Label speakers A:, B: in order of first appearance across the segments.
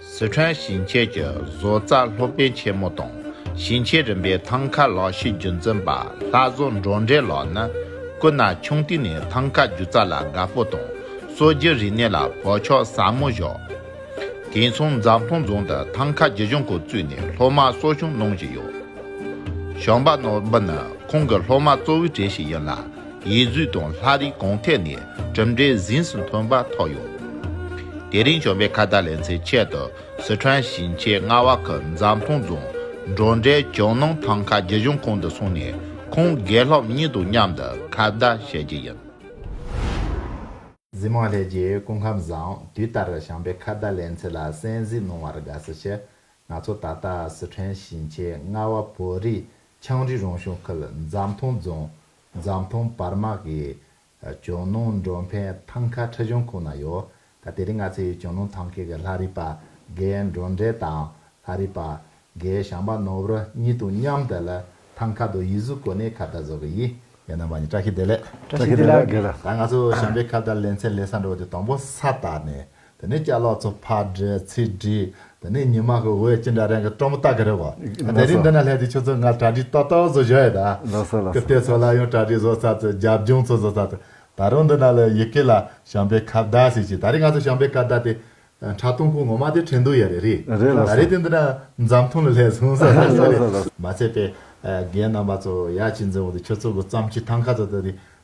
A: སི་ཁྲོན་ཞིང་ཆེན་གྱི་བཟོ་རྩལ་སློབ་དཔོན་ཆེན་མོ་དང་ཞིང་ཆེན་རིམ་པའི་ཐང་ག་ལག་ཤེས་རྒྱུན་འཛིན་པ་ལྷ་བཟོ་འབྲོག་འདྲེ་ལགས་ནི་སྐུ་ན་ཆུང་དུས་ནས་ཐང་ག་སྒྱུ་རྩལ་ལ་དགའ་པོ་དང་གསོ་རྒྱུ་རིག་གནས་ལ་བག་ཆགས་ཟབ་མོ་བཞག། དེ་མཚུངས་འཛམ་ཐང་རྫོང་དུ་ཐང་ག་སྒྱུ་སྦྱོང་སྐོར་བཙུགས་ནས་སློབ་མར་གསོ་སྦྱོང་གནང་བཞིན་ཡོད། ཞང་པ་ནོར་འབུལ་ནི་ཁོང་གི་སློབ་མ་གཙོ་བོའི་གྲས་ཤིག་ཡིན་ལ། ཡུལ་རྫུས་དང་ལྷ་རིས་གང་ཐད་ནས་གྲུབ་འབྲས་གཟེངས་སུ་ཐོན་པ་ཐོག་ཡོད། དེ་རིང་བྱོན་པའི་ཁ་བརྡ་ལེན་ཚེ་ཆེད་དུ་སི་ཁྲོན་ཞིང་ཆེན་
B: རྔ་བ་ཁུལ་འཛམ་ཐང་རྫོང་འབྲོག་འབྲས་ཇོ་ནང་ཐང་ཁ་རྒྱུ་གཞུང་ཁང་དུ་སོང་ནས་ཁོང་དགེ་སློབ་གཉིས་དང་མཉམ་དུ་ཁ་བརྡ་བྱེད་རྒྱུ་ཡིན། འཛིན་མ་ལྷས་རྗེའི་སྐུ་ཁམས་བཟང་དུས་ལྟར་བྱམས་པའི་ཁ་བརྡ་ལེན་ཚུལ་ལ་གསན་གཟིགས་གནང་བར་དགའ་བསུ་ཆེ། ང་ཚོ་ད་ལྟ་སི་ཁྲོན་ཞིང་ཆེན་རྔ་བ་བོད་རིགས་ཆའང་རིགས་རང་གཞུང་ཁུལ་འཛམ་ཐང་རྫོང་འཛམ་ཐང་བར་དམག་གི་ཇོ་ནང་མགྲོན་ཕན་ཐང་ཁ་ཁྲི་གཞུང་ཁོངས་ན་ཡོད། ད་དེ་རིང་ང་ཚོས་ཇོ་ནང་ཐང་ཁའི་གི་ལྷ་རིས་པ་དགའི་མགྲོན་འབྲེལ་དང་ལྷ་རིས་པ་དགའི་ཞང་པ་ནོར་བུ་གཉིས་དང་མཉམ་དུ་ལ་ཐང་ཁ་དུ་ཡིད་གཟུགས་གོ་གནས་ཁ་བརྡ་བཟོ་གི་ཡིན། ཡང་ན་འབའ་ཉི་བཀྲ་ཤིས་བདེ་ལེགས།
C: བཀྲ་ཤིས་བདེ་ལགས། ད་ང་ཚོ་ཞང་པའི་
B: ཁ་བརྡ་ལེན་ཚད་ལས་ས་འགྲོ་བ་དེ་དང་པོ་ས་དར་ནས་དེ་ནས་སྐྱ་ལོག་ཚོ་ཕར་བསྒྲིགས་ཚུར་བསྒྲིགས་དེ་ནས་ཉི་མ་གི་འོད་ཅི་འདྲ་རེང་གི་སྤྲོ་མོ་ལྟ་གི་རེད་བ། དེ་རིང་འདི་ན་སླེབས་དུས་ཁྱོད་ཚོ་ང་གྲ་སྒྲིག་ཏོག་ཏོག་བཟོ་བཞག་ཡོད་ད། ཀིརྟི་ཚོ་ལ་ཡང་གྲ་སྒྲིག་བཟོ་ཚར་ཚོད་རྒྱབ་ལྗོངས་ཚོ་བཟོ་ཚར་ཚོད་ད་རུང་འདི་ན་ལ་ཡི་གེ་ལ་ཞང་པའི་ཁ་བརྡ་ཟེར་གྱི་ད་རེས་ང་ཚོ་ཞང་པའི་ཁ་བརྡ་དེ་ཁྲ་ཐུང་ཁུང་ངོ་མ་དེ་ཁྲེན་ཏུའུ་ཡ་རེད་རེད་ད་རེས་དེ་འདི་ན་འཛམ་ཐུང་ལ་སླེབས་སོང་ཟེར་ཟེར་ཟེར་རེད། མ་ཚད་པའི་རྒན་རྣམ་པ་ཚོ་ཡ་ཅི་འཛིན་འོང་དུས་ཁྱོད་ཚོ་གི་བརྩམས་ཆོས་ཐང་ཁ་ཚོ་ད་དེ་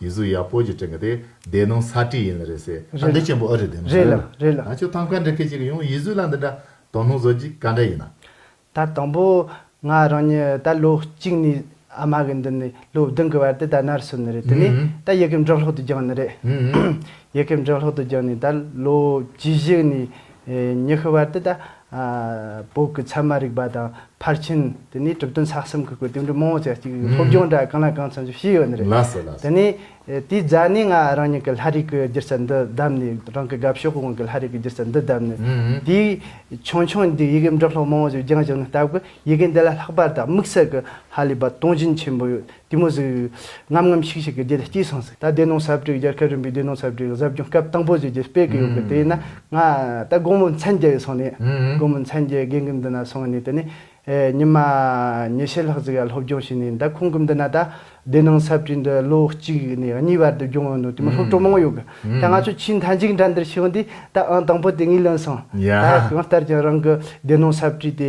B: ཡུལ་གཟུགས་ཡག་པོ་ཞིག་བསྐྲུན་གི་དེ་སྡེ་ནང་ས་བཀྲིས་ཡིན་ལ་རེད་ཟེར་ཨ་འདི་ཅན་པོ་ཨ་རེད་དེ་མི་རེད་ལ་རེད་ལ། ད་ཁྱོད་
C: ཐང་ག་འདྲི་ཁེ་
B: ཅིག་ཡོང་ཡུལ་གཟུགས་ལ་འདི་འདྲ་དོ་སྣང་བཟོ་རྒྱུ་ག་འདྲ་ཡིན་ན། ད་དང་པོ་
C: ང་རང་ཉིད་ད་ལོ་གཅིག་ནས་ཨ་མ་གི་མདུན་ནས་ལོ་བདུན་གི་བར་དུ་ད་ནར་སོན་ནི་རེད་དེ་ནས་ད་ཡི་གེ་འབྲི་ཀློག་ཏུ་སྦྱངས་ནི་རེད། ཡི་གེ་འབྲི་ཀློག་ཏུ་སྦྱངས་ནས་ད་ལོ་བཅུ་བཞི་ནས་མྱི་ཤི་བ་དེ་ད་བོད་ཀྱི་ཚད་མ་རིག་པ་དང་ཕར་ཕྱིན་དེ་ནས་གྲུབ་དོན་ཚགས་གསུམ་གྱི་སྐོར་དེ་འདྲའི་མང་བོ་ཅིག་གཅིག་སློབ་སྦྱོང་འདྲ་གང་ལ་གང་འཚམ་ཞིག་ཞུས་ཡོད་ནི་རེད། ལགས་སོ་ལགས་དེ་སོ། ནས་དེའི་རྫ་ནས་ང་རང་ཉིད་ཀྱི་ལྷ་རིགས་ཀྱི་སྒྱུ་རྩལ་འདི་བདམས་ནས་རང་གི་དགའ་ཕྱོགས་ཀྱི་དབང་གིས་ལྷ་རིགས་ཀྱི་སྒྱུ་རྩལ་འདི་བདམས་ནས་དེའི་ཆུང་ཆུང་འདིའི་ཡི་གེ་འབྲི་ཀློག་མང་བོ་ཞིག་སྦྱངས་བྱུང་ནས་ལྟ་བུ་ཡི་གེ་འདི་ལ་ལྷག་པར་དུ་དམིགས་བསལ་གྱི་ཧ་ལས་པ་སྟོང་བཞིན་ཆེན་པོ་ཡོད་གཏི་མུག་ཟེར། ངམ་ངམ་ཤིག་ཤིག་གི་རྒྱུད་སྐྱེས་སོང་ཟེར། ད་བདེ་སྣང་ཟབ་སྤྲོས་རྒྱལ་ཁབ་རིམ་པའི་བདེ་སྣང་ཟབ་སྤྲོས་གཟབ་སྦྱོང་སྐབས་དང་པོ་བཞི་རྒྱུད་སྤེལ་གི་ཡོད་གི་དེ་ཡིན་ན་ང་ད་དགོང་མོ་མཚན་བརྒྱད་ཡོལ་སོང་ནས་དགོང་མོ་མཚན་བརྒྱད་དགེ་འདུན་འདི་ན་སོང་ནས་དེ་ནས་ཉི་མ་ཉི་ཤུ་ལྷག་ཙིག་ཡར་སློབ་སྦྱོང་བྱས་ནས་ད་ཁོང་གི་འདི་ན་ད་བདེ་སྣང་ཟབ་སྤྲོས་འདི་ལོ་གཅིག་ནས་གཉིས་བར་དུ་སྦྱོང་ཡོང་ནོ་དེ་མིན་སློབ་གྲོགས་མང་པོ་ཡོད་གི་ད་ང་ཚོ་ཆེས་མཐའ་མཇུག་འདྲ་འདིར་ཤི་ཡོང་དུས་ད་ཨང་དང་པོ་དེ་ངས་ལོན་སོང་ད་གང་ལྟར་ཀྱང་རང་གི་བདེ་སྣང་ཟབ་སྤྲོས་དེ་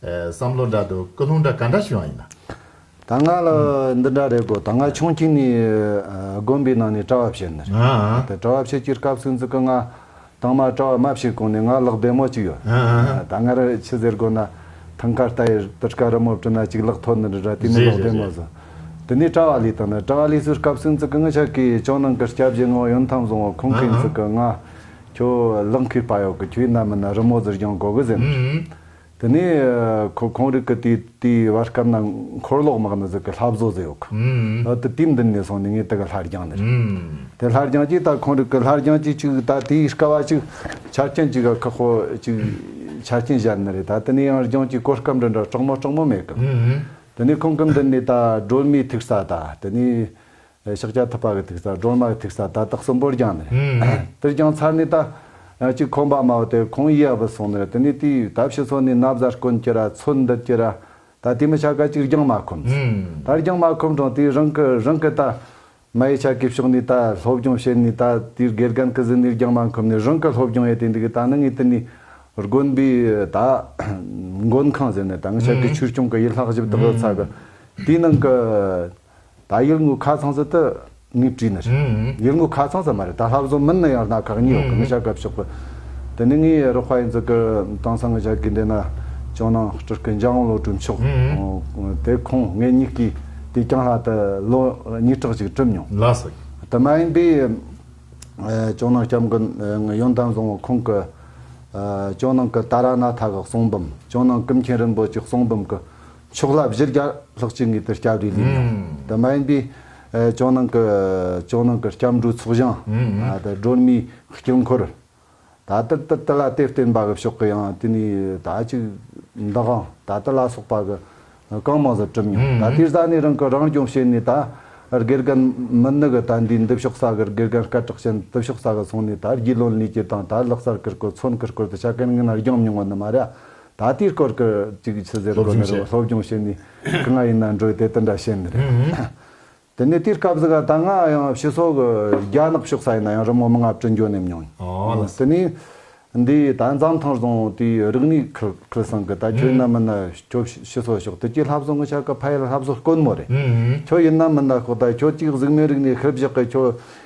B: བསམ་བློ་འདྲ་འདུག་སྐུ་ལུང་འདྲ་ག་འདྲ་ཞུ་ཡང་ཡིན་ན། ད་ང་ལ་
C: འདི་འདྲ་རེད་གོ་ད་ང་ཆུང་ཁྱི་ནས་དགོན་པའི་ནང་ནས་གྲྭ་བ་བྱེད་ནི་རེད་གྲྭ་བ་བྱེད་ཀྱི་སྐབས་སུ་འཛི་ཀི་ང་ཐང་མ་གྲྭ་བ་མ་བྱེད་གོང་ནས་ང་ལག་བདེ་མོ་གཅིག་ཡོད་ད་ང་ར་ཆི་ཟེར་དགོ་ན་ཐང་ཁ་རྟ་ཡིར་དིར་ཁ་རི་མོ་བྲི་ན་གཅིག་ལག་ཐོ་ནི་རི་ར་དེ་ནི་ལག་བདེ་མོ་བཟོ་དེ་ནས་གྲྭ་བ་ལས་དང་ནི་གྲྭ་བ་ལས་སུ་སྐབས་སུ་འཛི་ཀི་ངི་ཆ་ཀི་ཅོང་ནང་གི་སྐྱ་བཞི་ངོ་ཡོན་ཐང་བཟུང་བ་ཁོང་གིས་འཛི་ཀི་ང་ཁྱོ་ལག་མཁིར་པ་ཡོག་གི་ཁྱོའི་ནམ་མི་ན་རི་མོ་ཟིར་རྒྱང་གོ་གི་ཟེར་ནི་རེད། དེ་ནས་ཁོ་ཁོང་རིགས་ཀྱི་དེའི་བར་སྐབས་ན་འཁོར་ལོག་དམག་ནི་གཟུགས་ཀྱི་ལྷ་བཟོ་བཟོ་ཡོད་ཁ། ད་དུ་དུས་འདི་ནས་སོང་ནས་ངས་དེ་ག་ལྷར་སྦྱངས་ནི་རེད། དེ་ལྷར་སྦྱངས་ཅིག་ད་ཁོང་རིགས་ཀྱི་ལྷར་སྦྱངས་ཅིག་ཅིག་ད་དེའི་སྐ་བ་ཅིག་ཆ་རྐྱེན་གཅིག་ག་ཁག་ཁོ་ཅིག་ཆ་རྐྱེན་བཞག་ནི་རེད་ད་དེ་ནས་ཡང་སྦྱངས་ཅིག་གོ་སྐབས་འདི་འདྲ་སྐྲག་མོ་སྐྲག་མོ་མེད་ཀི། དེ་ནས་ཁོང་སྐབས་འདི་ནས་ད་སྒྲོལ་མའི་ཐུག་ས་ད་དེ་ནས་ཕྱག་རྒྱ་ཐུབ་པ་གི་ཐིག་རྩ་སྒྲོལ་མ་གི་ཐིག་རྩ་ད་དག་གསུམ་པོར་བརྒྱངས་ནས། དེར་བརྒྱངས་ཚར་ནས་ད་གཅིག་ཁོང་པ་མའོ་དེར་ཁོང་ཡིད་ཨ་བུ་སོང་ནས་དེ་ནས་དེའི་ད་ཕྱི་ཚོ་ནས་ན་བཟའ་དཀོན་ཀྱི་ར་ཚོད་འདིར་གྱི་ར་ད་དེ་མི་ཆ་ག་གཅིག་བརྒྱངས་མ་ཁོམས། ད་བརྒྱངས་མ་ཁོམས་གྲང་དེའི་རང་གི་རང་གི་ད་མ་ཡི་ཆ་གི་ཕྱོགས་ནས་ད་སློབ་སྦྱོང་བྱེད་ནས་ད་དེའི་དགེ་རྒན་གི་གཟི་ནས་བརྒྱངས་མ་ཁོམས་ནས་རང་གི་སློབ་སྦྱོང་ཡེ་དེ་འདི་གི་ད་ནི་ངའི་དེ་ནས་དགོན་
D: པའི་ད་མགོན་ཁང་ཟེར་ནས་ད་ངའི་ཆ་གི་ཆོས་སྐྱོང་གི་ཡིད་ལྷག་བཞི་བདག་ཚ་གི་དེའི་ནང་གི། ད་ཡུལ་དངོས་ཁ་ཚང་ས་དེ་ངས་བྲིས་ནི་རེད། ཡུལ་དངོས་ཁ་ཚང་ས་མ་རེད་ད་ལྷ་བཟོ་མིན་ནི་ཡང་སྣ་ཁག་གཉིས་ཡོག་གི་མི་བྱ་གབ་ཆོག་གི། དེ་ནི་ངའི་རོགས་པ་ཡིན་ཙི་གི་དང་ས་ངོས་བྱ་དགོས་འདོད་ན་ཅོང་ནང་སྤྲུལ་སྐུ་འཇང་བློ་གྲོས་མཆོག་དེ་ཁོང་ངེད་གཉིས་ཀྱིས་དུས་རྐྱང་ལྷ་དེ་ལོ་གཉིས་ཕྲག་ཅིག་བྲིས་མྱོང། དེ་མ་
B: ཡིན་པའི་
D: ཅོང་ནང་སྐྱབས་མགོན་ཡོན་ཏན་བཟང་བོ་ཁོང་གི་ཅོང་ནང་གི་ཏཱ་ར་ནཱ་ཐ་གི་གསུང་འབུམ་ཅོང་ནང་ཀུན་མཁྱེན་རིན་པོ་ཆེའི་གསུང་འབུམ་གི་ཕྱོགས་ལ་བཞི་བརྒྱ་ལྷག་བཅུ་ངེས་པའི་སྐྱབས་རེ་ལེན་ཡང་དེ་མ་ཡིན་པའི། ཇོ་ནང་གི་ཇོ་ནང་གི་སྐྱབས་འགྲོའི་ཚོགས་ཞིང། སྒྲོལ་མའི་དཀྱིལ་འཁོར། ད་ལྟར་དུ་དེ་ལ་གཏེར་བརྟེན་པ་གི་ཕྱོགས་ཀྱི་ཡང་དེ་ནས་ད་ཅིག་འདི་འང་ད་དེ་ལ་སོགས་པ་གི་གང་མང་ཟུར་གྲུབ་མྱོང་ད་དེ་ཟ་ནས་རང་གི་རང་སྐྱོང་བྱས་ནས་ད་དགེ་རྒན་མི་ནི་གི་ད་འདིའི་འདི་ཕྱོགས་ས་གི་དགེ་རྒན་སྐད་གྲགས་ཅན་དི་ཕྱོགས་ས་གི་སོང་ནས་ད་རྒྱུས་ལོན་ལས་ཀྱི་དང་ད་ལག་གསར་ཀིར་ཀོ་ཚོན་ཀིར་ཀོ་དི་ཆ་གན་ངན་རྒྱང་མྱོང་བ་ནི་མ་ར་ད་ལྟའི་སྐོར་གྱི་གཅིག་གི་ཆུ་ཟེར་སློབ་སྦྱོང་བྱེད། སློབ་སྦྱོང་བྱེད་ནི་གང་ང་ཡིན་ན་འགྲོ་དེ་དེ་འདྲ་བྱེད་ནི་རེད། དེ་ནས་དེའི་སྐབས་སུ་ག་ད་ང་ཡང་ཕྱི་སོག་གི་རྒྱ་ནག་ཕྱོགས་ས་ཡིན་ན་ཡང་རི་མོ་མི་ལྔ་བཅུ་འཇོག་ནས་མྱོང་ཡིན། དེ་ནས་འདི་ད་འཛམ་ཐང་བཟང་དེ་རིག་གནས་ཁུལ་ཁུལ་སང་གི་ད་ཁྱོད་ནམ་མི་ན་ཁྱོད་ཕྱི་སོག་ཕྱོགས་དེ་གྱི་ལྷ་བཟོ་ངོ་ཆ་གི་ཕ་ཡུལ་ལྷ་བཟོ་དཀོན་མོ་རེད། ཁྱོད་ཡིན་ནམ་མིན་ན་ཁོ་ད་ཁྱོད་ཅིག་གཟུགས་མེད་རིག་གནས་ཁུལ་བཞག་གི་ཁྱོད་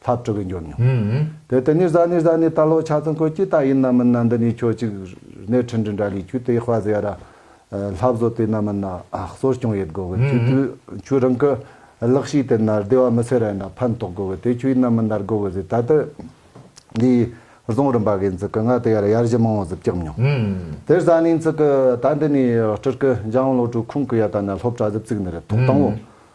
D: ལྷ་བཀྲུ་བས་འབྱོར་མྱོང། དེ་ལྟར་ནི་བཟའ་ནི་བཟའ་ནི་ད་ལོ་ཆ་ཚང་ཁོས་ཀྱི་ད་ཡིན་ན་མིན་ན་འདི་ནས་ཁྱོད་ཅིག་རནས་ཁྲི་འབྲི་འདྲ་ལས་ཁྱོད་དེ་དཔའ་ཟེ་ཡ་ར། ལྷ་བཟོ་དེ་ན་མིན་ན་གསོ་སྐྱོང་ཡེད་དགོ་གི་ཁྱོད་དུས་ཁྱོད་རང་གི་ལག་ཤེས་དེ་ན་བདེ་བ་མི་ཚེ་ར་ཡིན་ན་ཕན་ཐོག་དགོ་གི་དེ་ཁྱོད་ཡིན་ན་མིན་ན་དགོ་གི་ཟེ་ད་ལྟ་འདི་བཟང་རིམ་པ་གི་འཛི་ཀི་ང་དེ་ཡ་ར་ཡར་གཞི་མང་བོ་ཟི་བཀྱག་མྱོང། དེར་བཟའ་ནི་འཛི་ཀི་ད་འདི་ནས་བཀྲུར་གི་འཇང་བློ་གྲོས་ཁུང་གི་ཡ་ད་ན་སློབ་གྲ་ཟི་བཙུག་ནི་རེད་ཐོག་དང་བོ་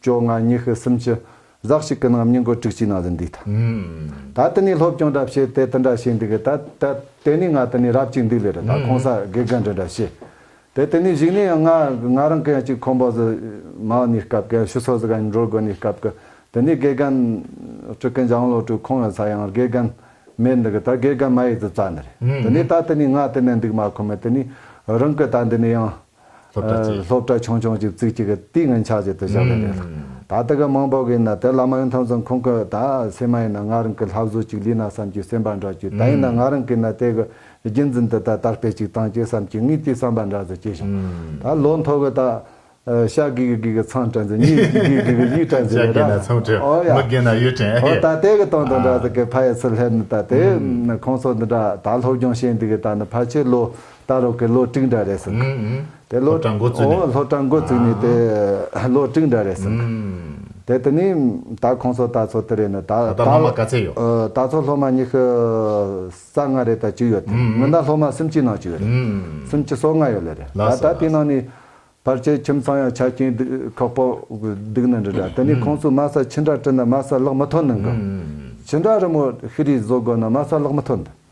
D: བཅོ་ལྔ་ཉི་ཤུ་སུམ་ཅུ་ཟག་ཞིག་གི་ནང་སྙིང་གོ་དྲུག་ཅུའི་ནང་དུ་འདུས་ཐུབ། ད་དེ་ནས་སློབ་སྦྱོང་འདྲ་བྱས་དེ་དེ་འདྲ་བྱས་འདི་གི་ད་དེ་དེ་ནས་ང་དེ་ནས་རབ་ཅིག་འདུས་ལེ་རེ་ད་ཁོང་ས་དགེ་རྒན་འདྲ་འདྲ་བྱས། དེ་དེ་ནས་གཞིགས་ནས་ཡང་ང་ང་རང་གི་ཡང་ཅིག་ཁོང་པོ་ཟི་མའོ་ནས་སྐབས་གི་ཡང་ཤུ་སོ་ཟི་ག་ནས་འགྲོ་དགོས་ནས་སྐབས་གི་དེ་ནས་དགེ་རྒན་ཀྲི་ཀན་ལྗང་བློ་གྲོས་ཁོང་ཡང་ས་ཡང་དགེ་རྒན་མེད་འདི་གི་ད་དགེ་རྒན་མ་ཡིས་དུ་རྩ་ནི་རེད་དེ་ནས་ད་དེ་ནས་ང་དེ་ནས་འདུག་མ་ཁོ་མོས་དེ་ནས་རང་གི་ད་འདི་ནས་ཡང། སློབ་གྲྭ་གཅིག། སློབ་གྲྭ་ཆུང་ཆུང་གཅིག་བརྩིགས་གཅིག་གི་ཏིང་ངེ་འཆགས་བྱེད་དུ་བཞག་པ་རེད་ལ། ད་ལྟ་གི་དམངས་བབ་ཡིན་ན་དེ་ལ་མ་ཡོང་ཐང་ཙང་ཁོང་གི་ད་སེ་མ་ཡིན་ན་ང་རང་གི་ལྷ་བཟོ་གཅིག་ལུས་ན་བསམ་གྱི་སེམས་པ་འདྲ་གྱུར་ད་ཡིན་ན་ང་རང་གིས་ན་དེ་གི་རྒྱུན་འཛིན་དུ་ད་དར་སྤེལ་གཅིག་བཏང་གྱི་བསམ་གྱི་ངའི་དེའི་བསམ་པ་འདྲ་ཙོ་སྐྱེས་བྱུང། ད་ལོ་མཐོ་གི་ད། ཤ་གི་གི་གི་གི་ཚང་དྲན་ཚེ་གཉིད་གི་གི་གི་གི་གི་ཡིད་དྲན་ཚེ་ལས་ར། ཤ་གི་ན་ཚང་དྲན། ཨོ་ཡ།
B: མི་གི་ན་ཡིད་དྲན་ཨེ། ཨོ་ད་དེ་གི་དོན་དང་འདྲ་
D: ཙོ་གི་ཕ་ཡི་ཚུལ་ལྷད་ནི་ད་དེ། ཁོང་ཚོ་འདི་འདྲ་ད་སློབ་སྦྱོང་བྱེད་འདི་གི་ད་ནི་ཕ་ཆེ་ལོ། ད་རོག་གི་ལོ་དྲུག་འདྲ་རེད་ཟེར། དེ་ལོ་གྲངས་འགོ་བཙུགས་ནས། ལོ་གྲངས་འགོ་བཙུགས་ནས་དེ་ལོ་དྲུག་འདྲ་རེད་ཟེར། དེ་དེ་ནས་ད་ཁོང་ཚོ་ད་ཚོ་དེ་རེད་ནས་ད། ད་ལྟ་སློབ་མ་ག་ཚད་ཡོད།
B: ད་ཚོ་སློབ་མ་ཉི་
D: ཤུ་རྩ་ལྔ་རེད་ད་བཅུ་ཡོད་དེ། སྔོན་ད་སློབ་མ་སུམ་ཅུའི་ནང་བཅུ་ཡོད་རེད། སུམ་ཅུ་སོ་ལྔ་ཡོད་ལེ་རེད། ད་ད་དེའི་ནང་ནས་བར་ཆད་ཁྱིམ་ཚང་ཡང་ཆ་རྐྱེན་ཁག་པོ་སྡུག་ནི་འདྲ་འདྲ། དེ་ནས་ཁོང་ཚོས་དམའ་ས་ཕྱི་འདྲ་བྲིས་ན་དམའ་ས་ལག་མི་ཐོག་ནི་འགང། ཕྱི་འདྲ་རི་མོ་ཤི་རིའི་བཟོ་དགོས་ན་དམའ་ས་ལག་མི་ཐོག་འདུག།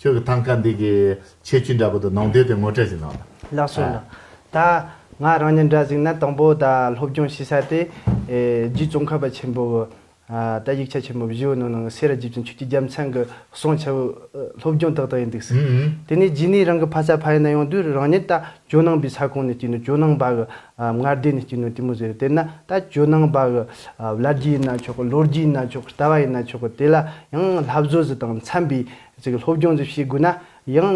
B: ཁྱོད་ཀྱི་ཐང་ཀ་འདི་གི་ཆེ་ཆུང་འདྲ་པོ་དང་ནང་དོན་དེ་ངོ་སྤྲོད་ཅིག་གནང་ལ། ལགས་སོ། ལགས།
C: ད། ང་རང་ཉིད་འདྲ་ཟིག་ན་དང་པོ་ད་སློབ་སྦྱོང་བྱེད་ས་དེ། རྒྱུད་རྩོམ་ཁ་པ་ཆེན་པོ། ད་ཡིག་ཆ་ཆེན་པོ་བཞི་བོ་ནང་ནང་གསེས་ར་རྒྱུད་ཀྱི་ཆུ་སྐྱི་རྒྱལ་མཚན་གྱི་གསུང་ཆེན་པོ། སློབ་སྦྱོང་ཏག་ཏག་ཡིན་འདུག་ཟེར། དེ་ནས་རྗེས་ནས་རང་གི་ཕ་ས་ཕ་ཡུལ་ན་ཡོང་དུས་རང་ཉིད་ད་ཇོ་ནང་པའི་ས་ཁོངས་ནས་སྐྱེས་ནས་ཇོ་ནང་པ་གི་མངལ་སྡེ་ནས་སྐྱེས་ནུ་ཏི་མོ་ཟེར་དེ་ན་ད་ཇོ་ནང་པ་གི་བླ་རྒྱུད་ཡིན་ན་ཆོག་གི་ལོ་རྒྱུས་ཡིན་ན་ཆོག་གི་ལྟ་བ་ཡིན་ན་ཆོག་གི་དེ་ལ་ཡང་ལྷ་བཟོ་ཟི་དང་འཚམ་པའི་སློབ་སྦྱོང་ཟི་བྱེད་དགོས་ན་ཡང་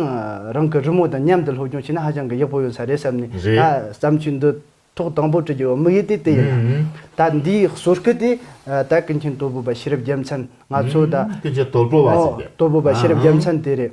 C: རང་གི་རི་མོ་དང་མཉམ་དུ་སློབ་སྦྱོང་བྱས་ན་ཧ་ཅང་གི་ཡག་པོ་ཡོད་ས་རེད་བསམ་ནས་ད་བརྩམས་ཆོས་འདི་ཐོག་དང་པོ་བྲི་རྒྱུ་དམིགས་ཡུལ་དེ་དེ་ཡིན་ད་འདིའི་གསོལ་སྐུ་དེ་ད་ཀུན་མཁྱེན་དོལ་པོ་པ་ཤེས་རབ་རྒྱལ་མཚན་ང་ཚོ་ད་ཀུན་མཁྱེན་དོལ་པོ་བ་ཟེར་ཏེ་
B: དོལ་པོ་པ་ཤེས་རབ་རྒྱལ་མཚན་
C: དེ་རེད།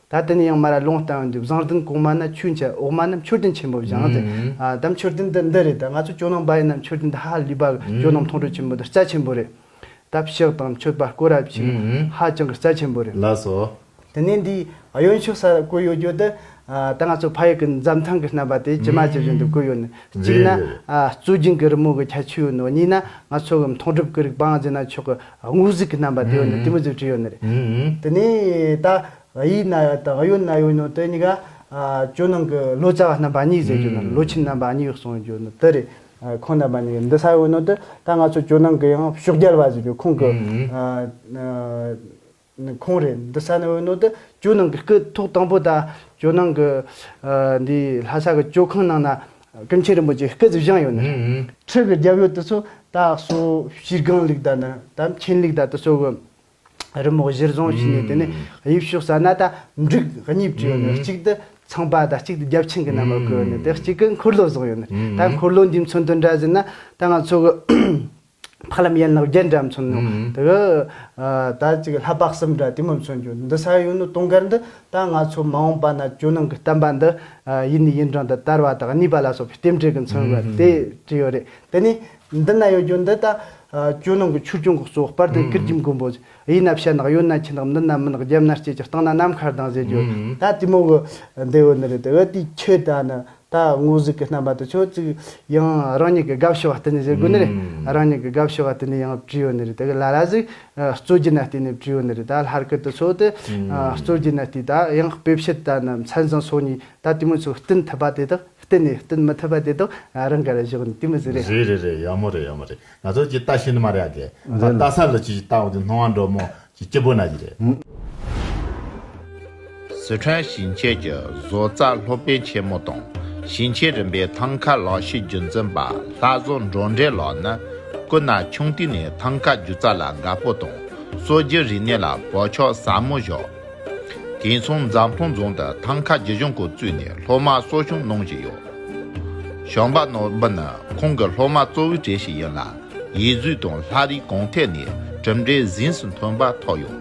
C: ད་དེ་ནས་ཡང་མར་ལོང་བལྟ་འོས་འདུག་བཟང་བསྟན་གོང་མ་ན་ཆོས་འཆད་འོག་མ་ན་མཆོད་རྟེན་ཆེན་པོ་བཞེངས་ཏེ། ད་མཆོད་རྟེན་འདི་འདི་རེད་ད་ང་ཚོ་སྐྱོ་སྣང་འབའ་ཡིན་ན་མཆོད་རྟེན་འདི་ཧ་ལས་པ་སྐྱོ་སྣང་མཐོང་གྲོལ་ཆེན་པོ་འདི་རྩ་ཆེན་པོ་རེད། ད་ཕྱག་དང་མཆོད་པ་བསྐོར་རབས་བྱིན་ཧ་ཅང་གི་རྩ་ཆེན་པོ་རེད། ལགས་སོ། དེ་
B: ནས་འདི་
C: གཡོན་ཕྱོགས་སར་བརྐོས་ཡོད་རྒྱུ་དེ་ད་ང་ཚོ་ཕ་ཡུལ་གྱི་འཛམ་ཐང་གི་རྣམ་པ་དེ་ཇི་མ་ཇི་བཞིན་དུ་བརྐོས་ཡོད་ནི་གཅིག་ན། རྩོད་སྦྱིན་གྱི་རི་མོ་གི་ཁྱད་ཆོས་ཡོད་ནོ་གཉིས་ན་ང་ཚོ་གི་མཐོང་གྲུབ་ཀྱི་རིག་པའང་རྗེ་ན་མཆོག་གི་དངོས་གཟུགས་ཀྱི་རྣམ་པ་དེ་ཡོད་ནི་དེ་མི་གཟུགས་ཀྱི་ཡོད་ནི་རེད། དེ་ནས་ད་ཡིག་ན་ཡོད་དང་ཡོད་ན་ཡོད་ནོ་དེ་གཉིས་ཀ་ཇོ་ནང་གི་ལོ་ཙཱ་བ་རྣམ་པ་གཉིས་ཟེར་རྒྱུ་ནི་ལོ་ཆེན་རྣམ་པ་གཉིས་གསུངས་རྒྱུ་ནི་དེ་རེད། ཁོང་རྣམ་པ་གཉིས་ཀ་འདི་ས་ཡོད་ནོ་དེ་ད་ང་ཚོ་ཇོ་ནང་གི་ཡང་ཕྱོགས་རྒྱལ་བ་ཟེར་རྒྱུ་ཁོང་གི། ནི་ཁོང་རེད། འདི་ས་ནི་འོད་ནོར་དུ་ཇོ་ནང་གི་སྐུ་ཐོག་དང་པོ་དང་ཇོ་ནང་གི། འདིའི་ལྷ་ས་གི་ཇོ་ཁང་ནང་ན་ཀུན་མཁྱེན་རིན་པོ་ཆེའི་སྐུ་ཚེ་བཞེངས་ཡོད་ནི། ཁྲི་གི་རྒྱབ་ཡོལ་དུ་སོ་དག་སོ་བཞིར་སྒང་ལུག་དག་ནི་དམ་མཁྱེན་ལུག་དག་ཏུ་སོ་གི། རི་མོག་གཞིར་བཟུང་བྱས་ནས་དེ་ནི་དབྱིབས་ཕྱོགས་ས་ན་དང་འབྲུག་གཉིས་བྲིས་ཡོད་ནི་གཅིག་ཏུ་ཚངས་པ་དང་གཅིག་ཏུ་རྒྱབ་ཆེན་གྱི་རྣམ་པར་བཀོད་ཡོད་ནི་དེ་གཅིག་གི་འཁོར་ལོ་བཟུང་ཡོད་ནི། ད་འཁོར་ལོ་འདིའི་མཚོན་དུ་འདྲ་ཟིན་ན་ད་ང་ཚོ་གི། ཕ་ལམ་ཡན་ལག་བརྒྱད་འདྲ་མཚོན་ནོ། དེ་ག་ད་ཅིག་ལྷ་དཔག་གསུམ་འདྲ་དེ་མ་མཚོན་ཀྱོ། འདི་ས་ཡོད་ནོ་སྟོང་གར་འདི་ད་ང་ཚོ་མ་འོངས་པ་ན་ཇོ་ནང་གི་གཏམ་པ་འདི་ཡིད་ནི་ཡིན་གྲང་དུ་དར་བ་དང་གཉིས་པ་ལ་སོགས་པའི་རྟེན་འབྲེལ་གྱི་མཚོན་བ་དེ་ཅི་ཡོད་རེད་དེ་ནི། འདི་ན་ཡོད་ཀྱོ་འདི་ད་ཇོ་ནང་གི་ཆོས་སྐྱོང་གི་གཙོ་སྤར་དང་ཀིར་གྱི་མགོན་པོ། དབྱི་ན་བྱ་ནག་ཡོད་ན་ཁྱི་ནག་འདི་ན་མི་ནག་རྒྱབ་ན་སྐྱེས་ཀྱི་སྟེང་ན་ནམ་མཁའ་ལྡང་ཟེར་ཀྱོ། ད་དེ་མོ་གི་འདི་ཡོད་ནི་རེད་དེ་ག་དེའི་ཁྱི་ད་ནི། ད་དངོས་གཟུགས་ཀྱི་རྣམ་པ་དེ་ཆོག་ཅིག་ཡང་རང་ཉིད་ཀྱི་དགའ་བྱེད་བ་བསྟན་ནས་བཞེད་དགོས་ནི་རེད། རང་ཉིད་ཀྱི་དགའ་བྱེད་བ་བསྟན་ནས་ཡང་བྲིས་ཡོད་ནི་རེད་ད་གི་ལ་ལ་ཞིག་རྩོད་རྒྱུ་ན་བསྟན་ནས་བྲིས་ཡོད་ནི་རེད་ད་ལྷར་སྐད་དུ་ཆོག་སྟེ། རྩོད་རྒྱུ་ན་བལྟས་ད་ཡང་དཔེ་བཤད་ད་ནི་མཚན་བཟང་སོགས་ནི་ད་དེ་མོ་ཚོས་བསྟན་ཐུབ་པ་དེ་དག་བསྟན་ནས་བསྟན་མི་ཐུབ་པ་དེ་དག་རང་གར་བཞག་ནི་དེ་མི་བཟི་རེད། བཟི་རེད་རེད་ཡག་མོ་རེད་ཡག་
B: མོ་རེད་ང་ཚོ་ཀྱི་ལྟ་བྱེད་ནི་མ་རེད་ཨ་དགེ། ད་ལྟ་ས་ལུ་སྐྱིད་ཀྱི་ལྟ་བ་འདི་སྣང་བ་འགྲོ་མོ་ཀྱི་སྐྱེ་བོ་ན་ཡི་རེད། སི་ཁྲོན་ཞིང་ཆེན་གྱི་བཟོ་རྩལ་སློབ་དཔོན་ཆེན་མོ་དང་ཞིང་ཆེན་རིམ་པའི་ཐང་ག་ལག་ཤེས་རྒྱུན་འཛིན་པ་
A: ལྷ་བཟོ་འབྲོག་འདྲེ་ལགས་ནི་སྐུ་ན་ཆུང་དུས་ནས་ཐང་ག་སྒྱུ་རྩལ་ལ་དགའ་པོ་དང་གསོ་རྒྱུའི་རིག་གནས་ལ་བག་ཆགས་ཟབ་མོ་བཞག་དེང་མཚུངས་འཛམ་ཐང་རྫོང་དུ་ཐང་ག་སྒྱུ་གཞུང་སྐོར་བཙུགས་ནས་སློབ་མར་གསོ་སྐྱོང་གནང་བཞིན་ཡོད། ཞོགས་པ་ནོར་བུ་ནི་ཁོང་གི་སློབ་མ་གཙོ་བོའི་གྲས་ཤིག་ཡིན་ལ། ཡིད་གཟུགས་དང་ལྷ་རིས་གང་ཐད་ནས་གྲུབ་འབྲས་གཟེངས་སུ་མཐོན་པ་ཐོབ་ཡོད།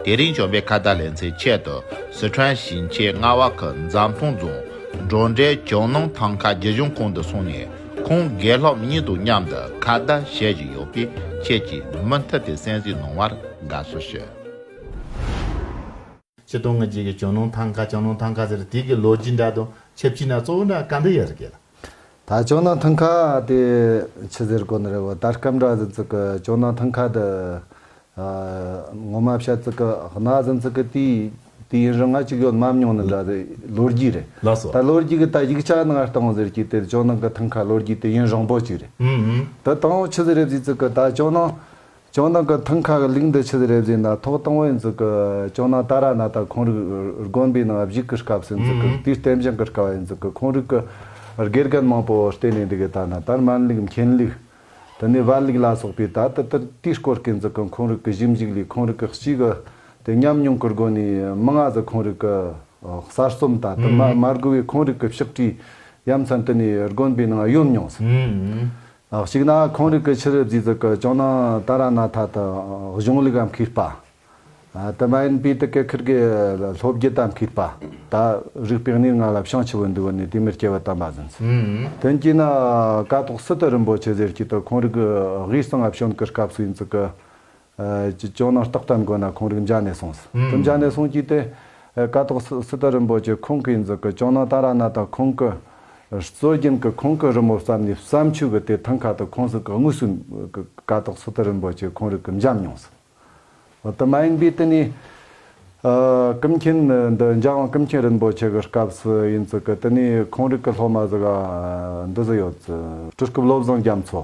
A: དེ་རིང་བྱོན་པའི་ཁ་བརྡ་ལེན་ཚེ་ཆེད་དུ་སི་ཁྲོན་ཞིང་ཆེན་རྔ་བ་ཁུལ་འཛམ་ཐང་རྫོང་སྒྲོག་འགྲེལ་ཇོ་ནང་ཐང་ཁ་རྒྱུད་གཞུང་ཁང་དུ་སོང་ནས་ཁོང་དགེ་སློབ་གཉིས་དང་མཉམ་དུ་ཁ་བརྡ་བྱེད་བཞིན་ཡོད་པས་ཁྱེད་ཀྱིས་མུ་མཐུད་དེ་
B: གསན་གཟིགས་གནང་བར་དགའ་བསུ་ཞུ། ཆེ་མཐོང་ངེས་འབྱེད་ཀྱི་བྱུང་ལུང་ཐང་ཁ་བྱང་ལུང་ཐང་ཁ་ཟེར་དེ་གི་ལོ་རྒྱུས་འདྲ་དང་ཆབས་ཅིག་ན་གཙོ་བོ་འདྲ་ག་འདི་ཡི་རུ་སྐད་ལ། ད་བྱང་
D: ལུང་ཐང་ཁ་དེ་ཆུ་ཟེར་དགོ་ནི་རེད་བ་ད་སྐམ་འདྲ་ཟིན་ཚུག་གི་བྱང་ལུང་ཐང་ཁ་འདི། ངོ་མ་བཤད་ཚུག་གི་གནའ་ཟིན་ཚུག་གི་དུས་དུས་ཡིན་རུང་ང་གཅིག་ཡོད་མམ་མྱོང་ནི་འདྲ་ཟེར་ལོ་རྒྱུས་རེད་ལགས་སོ། ད་ལོ་རྒྱུས་གི་ད་ཡིག་ཆ་ནི་ང་སྟོང་ཟེར་གྱི་དེ་བྱང་ལུང་གི་ཐང་ཁ་ལོ་རྒྱུས་དུས་ཡུན་རིང་པོ་གཅིག་རེད། དུ་དང་པོ་ཆུ་ཟེར་རེད་ཟིན་ཚུག་གི་ད་བྱང་ལུང་ལྕོག་ནག་གི་ཐང་ཁ་གི་ལིག་འདི་ཕྱི་ཟེར་རེབ་ཟིན་ན་ཐོག་དང་བོའི་འཛུགས་ཀི་ལྕོག་ནག་ཏཱ་ར་ནཱ་ཏཱ་ཁོང་རིགས་དགོན་པའི་ནང་བཞུགས་ཀི་སྐབས་སུ་འཛུགས་ཀི་དུས་བསྟན་བཞེངས་ཀི་དཀའ་བའི་འཛུགས་ཀི་ཁོང་རིགས་ཀི་དགེ་རྒན་མང་པོ་བསྟེན་ནས་འདི་གི་ད་ནཱ་ཏར་མན་ལིག་མཁན་ལིག། དེ་ནས་བར་ལིག་ལ་སོགས་པའི་ད་དི་ཏིར་དུས་སྐོར་གི་འཛུགས་ཀི་ཁོང་རིགས་ཀི་གཞི་འཇིགས་ལིག་ཁོང་རིགས་ཀི་གཅིག་གི་དེ་ཉམས་མྱོང་ཀི་སྒོ་ནས་མི་ལྔ་ཟི་ཁོང་རིགས་ཀི་གསར་རྩོམ་ད་དི་མ་མར་གི་བའི་ཁོང་རིགས་ཀི་ཕྱག་བྲིས་ཡ་མཚན་དི་ནས་དགོན་པའི་ནང་གཡོ་མྱོང་སིན། གཅིག་ན་ཁོང་རིགས་ཀྱི་ཕྱིར་རྫས་ཙི་ཀི་ཅང་ནང་ཏཱ་ར་ནཱ་ཐ་དང་གཞུང་ལུགས་ཨམ་ཁིར་པ། དེ་མ་ཡིན་པའི་ཏི་ཀེ་ཁིར་གི་ལྷོ་བརྒྱུད་ཨམ་ཁིར་པ་དག་རིགས་པས་གནས་ལྔ་ལ་བྱང་ཆུབ་བོ་འདུལ་བ་ནི་དེ་མིར་སྐྱེ་བ་དམ་པ་ཟིན། དོན་གྱིས་ན་ཀ་ཐོག་སི་ཏི་རིན་པོ་ཆེ་ཟེར་སྐྱེས་དུ་ཁོང་རིགས་དབུས་གཙང་ཨ་བྱོན་གྱི་སྐབས་སུ་ཡིན་ཙི་ཀི་ཀྱི་ཅོ་ནང་རྟགས་བཀྲམ་དགོས་ན་ཁོང་རིགས་འཇགས་ནས་སོང་ཟིན་འཇགས་ནས་སོང་གྱིས་ཏེ། ཀ་ཐོག་སི་ཏཱ་རིན་པོ་ཆེ་ཁོང་གིས་འཛུགས་ཀྱི་ཅོ་ནང་ཏཱ་ར་ནཱ་ཐ་ཁོང་གི་སྲོལ་རྒྱུན་གྱི་ཁོང་གི་རི་མོ་བརྩམས་ནས་བརྩམས་ཆོས་ཀྱི་དེ་ཐང་ཁ་ཏུ་ཁོང་གཟུགས་ཀྱི་དངོས་སུ་ཀ་ཐོག་སི་ཏཱ་རིན་པོ་ཆེ་ཁོང་རིགས་ཀྱི་འཇམ་མྱོང་ཟིན། འོ་དེ་མ་ཡིན་པའི་དེ་ནས་ཀིམ་མཁྱེན་འདི་འཇགས་དབང་ཀིམ་མཁྱེན་རིན་པོ་ཆེ་གི་སྐབས་སུ་ཡིན་ཙི་ཀི་དེ་ནས་ཁོང་རིགས་ཀྱི་སློབ་མ་ཟི་ག་འདི་ཟི་ཡོད་ཙི། སྤྲུལ་སྐུ་བློ་བཟང་རྒྱ་མཚོ།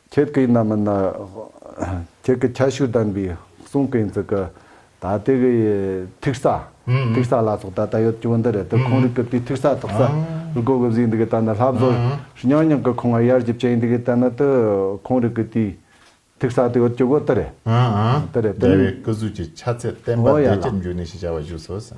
D: ཁྱེད་ཀྱིས་ནམ་ཡིན་ན། ཁྱེད་ཀྱི་ཁྱད་ཞུགས་ལྡན་པའི་གསུང་གི་འཛུགས་སྐུ། ད་ལྟའི་གི་ཐིག་གསའ། ཐིག་གསའ་ལ་སོགས་ད་ལྟ་ཡོད་ཀྱི་བུ་འདི་རེད་དེ་ཁོང་རིགས་ཀྱི་དུས་ཐིག་གསའ་ཐོག་གསའ་རུ་གོ་གི་བཟོས་འདུག་གི་ད་ནི་ལྷ་བཟོ་རྙང་རྙང་གི་ཁོང་ང་ཡར་རྒྱུ་བཅས་འདུག་གི་ད་ནི་དུ་ཁོང་རིགས་ཀྱི་དུས་ཐིག་གསའ་དུ་ཡོད་ཀྱི་བུ་དུ་རེད། དུ་རེད་དུ། རྒྱལ་བའི་སྐུ་གཟུགས་ཀྱི་ཆ་
A: ཚད་བསྟན་པ་བདེ་སྐྱིད་འབྱུང་གནས་ཞེས་བྱ་བ་བཞུགས་སོ།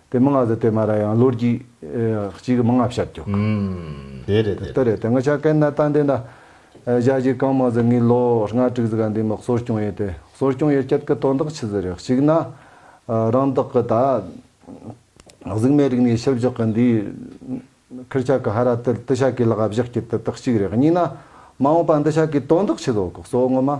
D: དེ་མི་ལྔ་ཟེར་དེ་མ་ར་ཡང་ལོ་རྒྱུས་གཅིག་གི་མི་ལྔ་བཤད་རྒྱོ། དེ་རེད་
A: དེ་རེད། དེ་ང་ཆ་
D: ཀན་ན་ཏན་དེ་འདྲ་བཞག་རྒྱུ་གང་མ་ཟེར་ངའི་ལོ་ལྔ་དྲུག་ཟེར་ག་འདི་མི་གསོ་སྐྱོང་ཡོད་དེ་གསོ་སྐྱོང་ཡོད་སྐད་གི་དོན་དག་ཆི་ཟེར་རེད་གཅིག་ན་རང་དག་གི་ད་གཟུགས་མེད་རིག་ནས་ཤི་བཞག་གི་འདི་ཁིར་ཆག་གི་ཧ་ར་དེ་ཏི་ཤ་ཀའི་ལག་བཞག་རྒྱུ་དེ་དག་གཅིག་རེད་གཉིས་ན་མ་འོངས་པ་འདི་ཤ་ཀའི་དོན་དག་ཆི་ཟོ་གི་གསོ་ངོ་མ།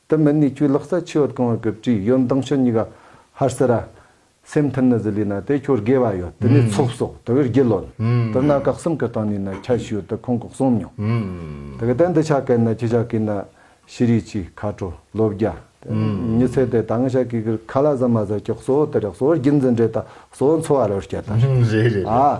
D: དུ་མི་ནུས་ཁྱོད་ལག་རྩལ་ཆེ་བར་གང་བར་གྱུར་ཅིག་ཡོན་མདངས་ཆུ་གཉིས་ཀ་ཧར་སེ་ར། སེམས་མཐུན་ནི་ཟི་ལི་ན་དེ་ཁྱོད་དགེ་བ་ཡོད་དེ་ནས་ཚོགས་སོགས་དེ་བས་རྒྱུད་ལོན། དེ་ན་བཀག་གསུམ་གྱི་སྟེང་ནས་ནི་ཁྱད་ཞུ་དེ་ཁོང་གོག་གསུམ་མྱོང། དེ་གི་སྟེང་དུ་ཆ་གས་ནི་ཁྱི་ཤ་ཀི་ནི་ཤི་རིག་ཅིག་མཁའ་འགྲོ་ལོ་བརྒྱ། ཉི་ཚེ་དེ་ད་ང་ཤ་ཀི་ཀིར་ཁ་ལ་ཟ་མ་ཟ་ཀྱི་གསོ་བོ་དེ་རེག་གསོ་བོར་རྒྱུད་འཛིན་འདྲེ་དང་གསོ་བོ་འཚོ་བ་རོལ་སྐྱེ་དང། རེད་རེད་རེད།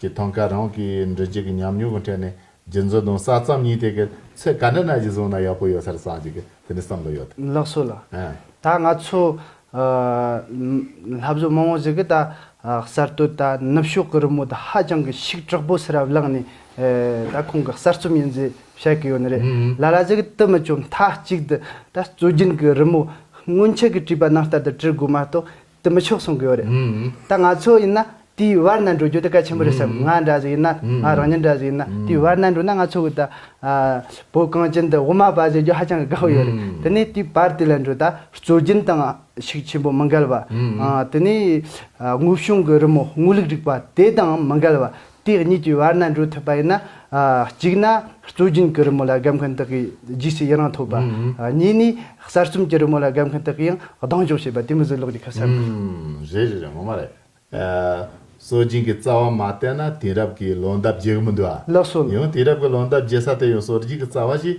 A: ཀྱི་ཐང་ག་རང་གི་འབྲི་རྒྱུ་གི་ཉམས་མྱོང་གི་ཐད་ནས་རྒྱུན་འཛིན་དང་གསར་རྩོམ་གཉིས་དེ་གི་ཚེ་ག་འདྲ་ན་གཞི་བཟུང་ན་ཡག་པོ་ཡོད་སར་བསམ་གྱི་གི་དེ་ནས་བསམ་བློ་ཡོད། ལགས་སོ་ལ།
C: ད་ང་ཚོ། ལྷ་བཟོ་མང་བོ་ཟིག་གི་ད་གསར་གཏོད་ད་ནུབ་ཕྱོགས་གི་རི་མོ་ད་ཧ་ཅང་གི་ཤིག་དྲག་པོ་སེ་ར་བླངས་ནས་ད་ཁོང་གི་གསར་རྩོམ་ཡིན་ཟེ་བཤད་གི་ཡོད་ནི་རེད་ལ་ལ་ཟིག་གི་དི་མི་ཅོ་མཐའ་གཅིག་དི་ད་སྩོལ་རྒྱུན་གི་རི་མོ་སྔོན་ཆད་གི་བྲིས་པ་ནང་ལྟར་དི་བྲི་དགོས་མ་གཏོགས་དེ་མི་ཆོག་གསུང་གི་ཡོད་རེད། ད་ང་ཚོ་ཡིན་ན་དེའི་བར་ན་འགྲོ་རྒྱུ་དེ་གལ་ཆེན་པོ་རེད་བསམ་ང་འདྲ་ཟིག་ཡིན་ན་ང་རང་ཉིད་འདྲ་ཟིག་ཡིན་ན་དེའི་བར་ན་འགྲོ་ན་ང་ཚོ་གི་ད་བོད་གངས་ཅན་དུ་དབུ་མ་པ་ཟེར་རྒྱུ་ཧ་ཅང་གི་དགའ་བོ་ཡོད་རེད་དེ་ནས་དེའི་བར་དེ་ལ་འགྲོ་ད་སྲོལ་རྒྱུན་དང་ཤུགས་ཆེན་པོ་མི་འགལ་བ། དེ་ནས་དངོས་བྱུང་གི་རི་མོ་དངོས་ལུགས་རིག་པ་དེ་དང་མི་འགལ་བ། དེ་གཉིས་ཀྱི་བར་ན་འགྲོ་ཐུབ་པ་ཡིན་ན། གཅིག་ན་གཙོ་རྒྱུན་གྱི་རི་མོ་ལ་སྒབ་མཁན་དག་གིས་རྗེས་སུ་ཡི་རང་ཐོབ་པ། གཉིས་ནི་གསར་རྩོམ་གྱི་རི་མོ་ལ་སྒབ་མཁན་དག་གིས་ཡང་སྡང་ཞོག་བྱེད་པ་དེ་མི་བཟོད་ལོག་རྒྱུ་ཁ་གསལ་མོ་རེད། རེད་རེད་རེད་ངོ་མ་རེད།
A: གཙོ་རྒྱུན་གྱི་རྩ་བ་མ་བསྟན་ན་དེང་རབས་ཀྱི་ལོ་འདབ་རྒྱས་གི་མི་འདུག་ཨ། ལགས་སོ། ཡང་དེང་རབས་
C: ཀྱི་ལོ་འདབ་
A: རྒྱས་ས་དེ་ཡང་གཙོ་རྒྱུན་གྱི་རྩ་བ་ཞིག་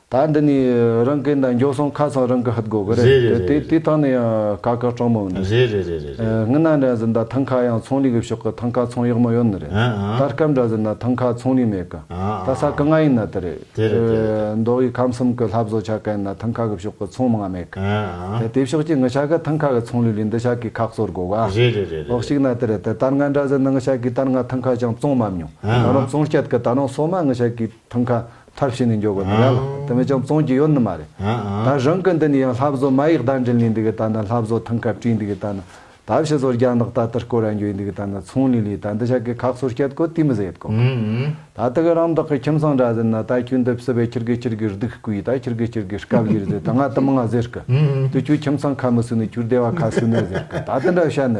D: ད་འདི་ནས་རང་གི་འདི་འགྱོགས་སོང་ཁ་ཚང་རང་གི་ཧུད་དགོ་གི་རེད་རེད་རེད་དེ་ཐང་ནས་ཡང་ཀ་ཀ་སྤྲང་མོ་འདུག་རེད་རེད་རེད་རེད་རེད།
A: ངི་ན་འདྲ་ཟིན་ད་
D: ཐང་ཁ་ཡང་ཚོང་ལས་གི་ཕྱོགས་གི་ཐང་ཁ་ཚོང་ཡག་མོ་ཡོད་ནི་རེད་ཨང་ཨང། ད་སྐབས་འདྲ་ཟིན་ན་ཐང་ཁ་ཚོང་ལས་མེད་གི་ད་ས་གི་ང་ཡིན་ན་དེ་རེད་དེ་རེད་དེ་རེད་དེ། མདོ་དབུས་ཁམས་གསུམ་གི་ལྷ་བཟོ་ཆ་གན་ན་ཐང་ཁ་གི་ཕྱོགས་གི་ཚོང་མི་ང་མེད་གི་ཨང་ཨང། དེ་དེ་ཕྱོགས་ཀྱི་ངི་ཤ་གི་ཐང་ཁ་གི་ཚོང་ལས་ལས་འདི་ཤ་གི་ཁག་གསོ་དགོ་གི་རེད་རེད་རེད་རེད། འོག་ཞིག་ན་
A: དེ་རེད་དེ་ད་
D: ང་འདྲ་ཟིན་ན་ངི་ཤ་གི་ད་ང་ཐང་ཁ་ཅང་བཙོང་མ་མྱོང་ཨང་ད་རང་ཨང། བཙོང་སྐྱད་གི་ད་རང་སོ་མ་ངི་ཤ་གི་ཐང་ཁ་ཐབས་བྱས་ནས་འཇོག་གི་མི་ར་ལ་དེ་མི་ཅང་བཙོང་གི་ཡོད་ནི་མ་རེད་ད་རང་གི་འདི་ནས་ཡང་ལྷ་བཟོ་མ་ཡིག་བརྡ་འགྲིན་ལས་འདི་གི་ད་ནི་ལྷ་བཟོ་ཐང་ཁ་བྲིས་འདི་གི་ད་ནི་ད་བྱས་བཟོ་རྒྱ་ནག་ད་ཏི་སྐོར་ར་འགྱོས་འདི་གི་ད་ནི་ཚོང་ལས་ལས་ད་འདི་བྱ་གི་ཁག་སོར་སྐྱད་དགོ་དེ་མི་བཟད་དགོ་གི་ད་ཏི་གི་རང་བདག་གི་ཁྱིམ་ཚང་འདྲ་ཟེར་ན་ད་ཁྱོད་འདི་བསི་བས་ཁྱིར་གི་ཁྱིར་གི་རྡུག་གི་ད་ཁྱིར་གི་ཁྱིར་གི་སྐབས་བཞིར་ཟེར་ད་ང་དི་མི་ང་ཟེར་གི་དུ་ཁྱོད་ཁྱིམ་ཚང་ཁ་མི་བསུ་ནི་ཁྱོད་སྡེ་བ་ཁ་བསུ་ནི་ཟེར་གི་ད་དི་འདྲ་བྱ་ནི་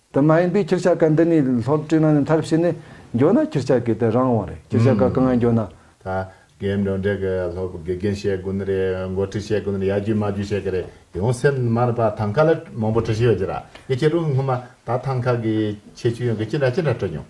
D: དེ་མ་ཡིན་པའི་ཁྱེར་བྱ་ཀ་འདི་ནི་ལྷོར་བཀྲུས་ན་ནི་མཐར་ཕྱིན་ནི་འགྱོ་ན་ཁྱེར་བྱ་ཀའི་དེ་རང་དབང་རེད་ཁྱེར་བྱ་ཀ་གང་ཡང་འགྱོ་ན། ད་གེ་
A: འབྲོང་འབྲེག་གི་ལྷོ་བུ་དགེ་རྒན་བཤད་དགོས་ནི་རེད་མགོ་ཁྲིད་བཤད་དགོས་ནི་རེད་ཡ་རྒྱུས་མ་རྒྱུས་བཤད་གི་རེད་ཡང་སེམས་མར་པ་ཐང་ཁ་ལ་མང་པོ་བྲི་བཞིན་ཡོད་རྒྱུ་ར་ཡིན་ཁྱེད་རང་སྔོན་མ་ད་ཐང་ཁ་གི་ཁྱད་ཆོས་ཡོང་གི་ཅི་འདྲ་ཅི་འདྲ་བྲི་མྱོང།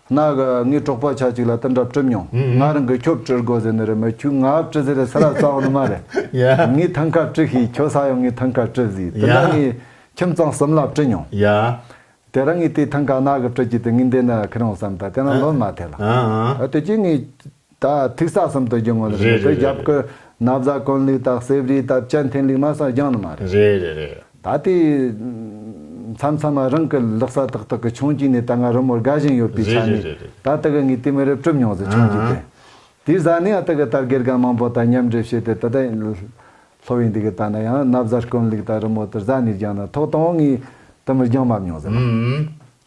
D: ང་ངའི་གྲོགས་པ་ཆགས་ཅིག་ལ་ཏི་འདྲ་སྤྲིབ་མྱོང། ང་རང་གི་ཁྱོ་བཀྲི་དགོས་ཟེར་ནི་རེད་མོད་ཁྱོས་ང་བཀྲི་ཟེར་ས་ར་ཙང་ནི་མ་རེད། ངའི་ཐང་ཁ་བཀྲི་ཤིས་ཁྱོ་ས་ཡང་ངའི་ཐང་ཁ་བཀྲི་ཟིས་ཏི་འདྲ་ངའི་ཁྱིམ་ཚང་གསུམ་ལ་བཀྲི་མྱོང།
A: དེ་རང་ངའི་དེའི་
D: ཐང་ཁ་ནག་གི་བཀྲི་རྒྱུ་དེ་ངའི་འདི་ནི་ཁི་རང་བསམ་ད་དེ་རང་ལོན་མ་ཐེ་ལ། དེ་རྗེས་ངའི། ད་ཐིག་ས་གསུམ་དུ་རྒྱུ་ངོ་ལ་མེད་པའི་རྒྱབ་ཀུན་ན་བཟའ་དཀོན་ལུས་དག་གསེབ་རིའི་སྟབས་ཅན་འཐེན་ལུགས་མ་སངས་རྒྱང་ནི་མ་རེད། རེད་རེད་རེད། ད་
A: ལྟའི་
D: མཚམས་མཚམས་རང་གི་ལག་ས་ཏག་ཏག་གི་ཆུང་སྐྱིད་ནས་ད་སྔ་རི་མོར་དགའ་བཞིན་ཡོད་པའི་ཆ་ནས་ད་ལྟ་གི་ངའི་ལྟས་མི་རབས་གྲུབ་མྱོང་ཟེར་ཆུང་སྐྱིད་དེ་དེའི་བཟའ་ནི་ཨ་ཏི་གི་དར་གེར་ག་མང་པོ་དང་མཉམ་འདྲེས་བྱས་ཏེ་ད་ལྟ་ལྷོ་བས་འདི་གི་ལྟ་ན་ཡང་ན་བཟའ་དཀོན་ལུགས་དག་རི་མོ་དེར་བཟའ་ནས་རྒྱང་ན་ཐོག་དང་བོ་ངའི་ལྟས་མིར་རྒྱང་མ་མྱོང་ཟེར།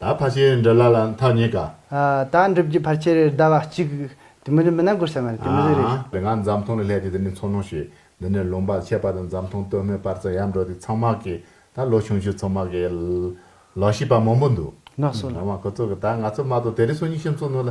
C: ད་ཕར་ཆེར་
A: འདྲ་ལ་ལ་མཐའ་རྙེད་དཀའ། ད་འགྲུབ་རྒྱུ་
C: ཕར་ཆེར་ཟླ་བ་གཅིག། དེ་མི་འགྲུབ་མི་ན་དགོད་ས་མེད་རེད་དེ་མི་ཟིག་རེད། ང་འཛམ་མཐོང་ལ་སླེབས་
A: ཏེ་འདི་ནས་འཚོ་སྣང་བྱས། འདི་ནས་ལུང་པར་ཆས་པ་དང་འཛམ་མཐོང་སྟོད་སྨད་པར་ཙམ་ཡར་འགྲོ་དུས་ཚང་མ་གི་ད་ལོ་ཆུང་ཆུང་ཚོ་མ་གི། ལག་ཤེས་པ་མང་པོ་འདུག། ནགས་སོ་ལ། ང་མ་གོ་
C: ཚོ་གི་ད་ང་
A: ཚོ་མ་གཏོགས་དེ་རིང་སོ་གཉིས་ཤིང་བཙུགས་ནོ་ལ